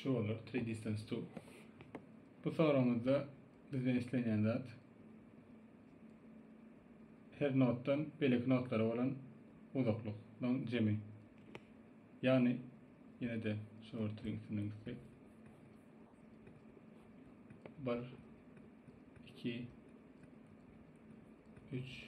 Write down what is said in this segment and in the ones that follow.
Şu bolar 3 distance to. Bu soragymyzda bizden islenýän zat her notdan belek notlara bolan uzaklygyň jemi. Ýagny ýene de şu ortryň üstünden gitsek. 1 2 3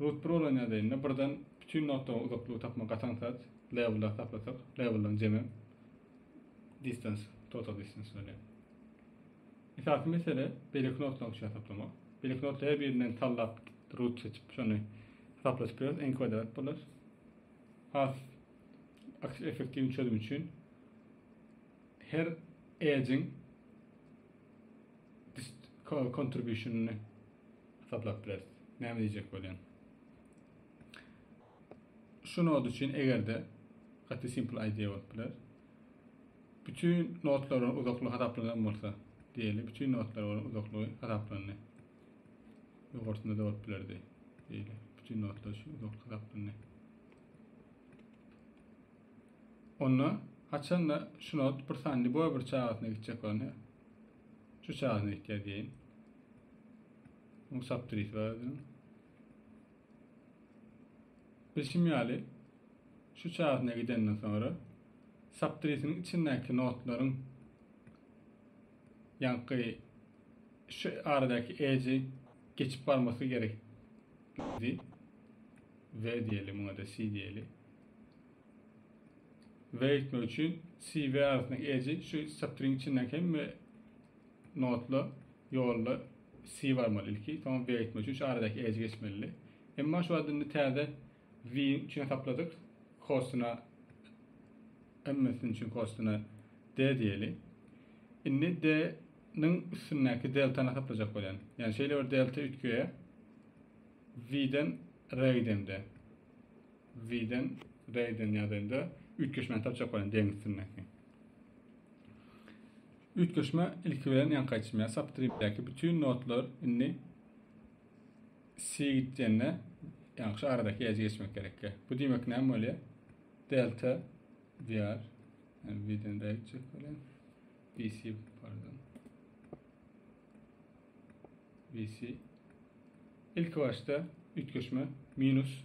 Root Pro bilen ýadaýynda birden bütin notalara uzaklygy tapmak gaty aňsat. Labelleri saplasak, labelleriň jemi distance, total distance berýär. Esasy mesele beýleki notalaryň üçin hasaplamak. Beýleki notalaryň her birinden sallap root seçip, şony hasaplaşyp bileris. Iň kwadrat bolar. Has effektiwni çözüm üçin her edge-iň contribution-yny Hasaplap bileris. Näme diýjek bolýan. Şu nod üçin egerde gaty simple idea bolup biler. Bütün nodlar bilen uzaklygy hasaplanan bolsa diýeli. Bütün nodlar bilen uzaklygy hasaplandy. Ýokarsynda da bolup bilerdi. Diýeli. Bütün nodlar şu uzaklyk hasaplandy. Onda haçanda şu not bir sanly boy bir çagasyna gitjek bolanda Şu çagyny eýtýär diýeýin. Oň saptyrysy bar özüniň. Bilşim ýaly, şu çagyna gidenden soňra saptyrysynyň içindäki notlaryň ýaňky şu aradaky edge geçip barmasy gerekdi. V diýeli, muňa-da C diýeli. we etmek üçin si we arasyndaky edge şu satryň içinden hemme notla ýolda si barmaly ilki soňra we etmek üçin şu aradaky edge geçmeli emma şu adynda täze we üçin hesapladyk kostuna hemmesini üçin kostuna d diýeli indi d niň üstündäki deltany hesaplajak bolýan ýani şeýle bir delta üýtgeýär v den r gidemde Ziden, Reýden ýadaýynda üýtgeşmäni tapjak bolan deňiz üstündäki. Üýtgeşme ilki bilen ýaňky aýtjym ýaly subtripdäki bütün notlar indi si gitjende ýaňky şu aradaky ýajy geçmek gerekli. Bu diýmek näme bolýar? Delta VR yani V'den R'ye çek bilen VC pardon VC ilk başta üýtgeşme minus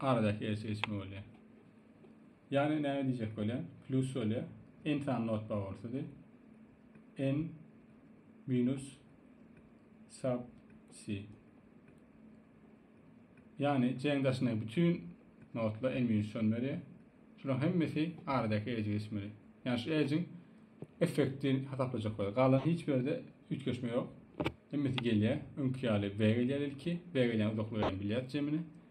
Aradaky ýeri seçme bolýar. Ýagny näme diýjek bolýar? Plus bolýar. N sany not bagorsydy. N minus sub C. Ýagny C-niň daşyndaky bütün notlar N minus on berýär. Şularyň hemmesi aradaky edge geçmeli. Ýagny şu edge-iň effekti hasaplajak bolýar. Galan hiç bir ýerde üýtgeşme ýok. Hemmesi gelýär. Öňki ýaly B gelýär ilki. B gelýän uzaklygy hem bilýäris jemini.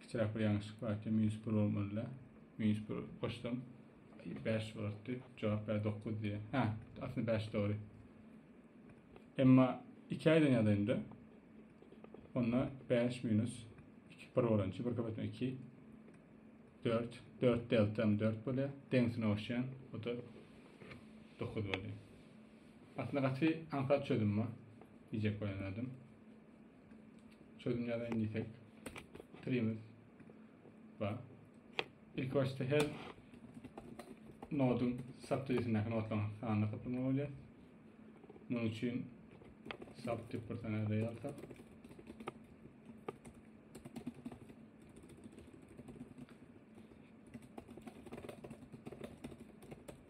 Kiçiräk bir ýalňyşlyk bar eken, minus bir bolmalyda. Minus bir goşsam, bäş bolardy. Jogap ber dokuz diýýär. Hä, aslynda bäş dogry. Emma iki aýdan ýadaýynda, onda bäş minus iki bir bolan üçin bir köpetme iki, dört, dört deltam dört bolýar. Deňsine goşýan, o da dokuz bolýar. Aslynda gaty aňsat çözüm bu, diýjek bolan adam. Çözüm ýazaýyn diýsek, pikrimiz bar. Ilki başda her noduň subtipindäki nodlaryň sanyny hesaplamak bolýar. Munuň üçin subtip bir sany array alsak,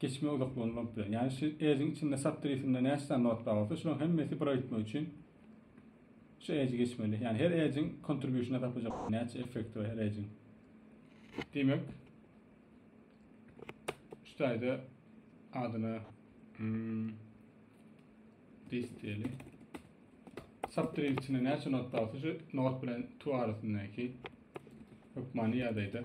Geçme uzaklygyny bolup bilen. Yani şu edge'iň içinde subtree-sinde näçe sany not bar bolsa, şularyň hemmesi bir gitmek üçin şu edge'i geçmeli. Yani her edge'iň contribution'a tapacak näçe effekti bar her edge'iň. Demek, şu taýda adyna hmm, this diýeli. Subtree içinde näçe not bar bolsa, şu not bilen to arasyndaky hökmany ýagdaýda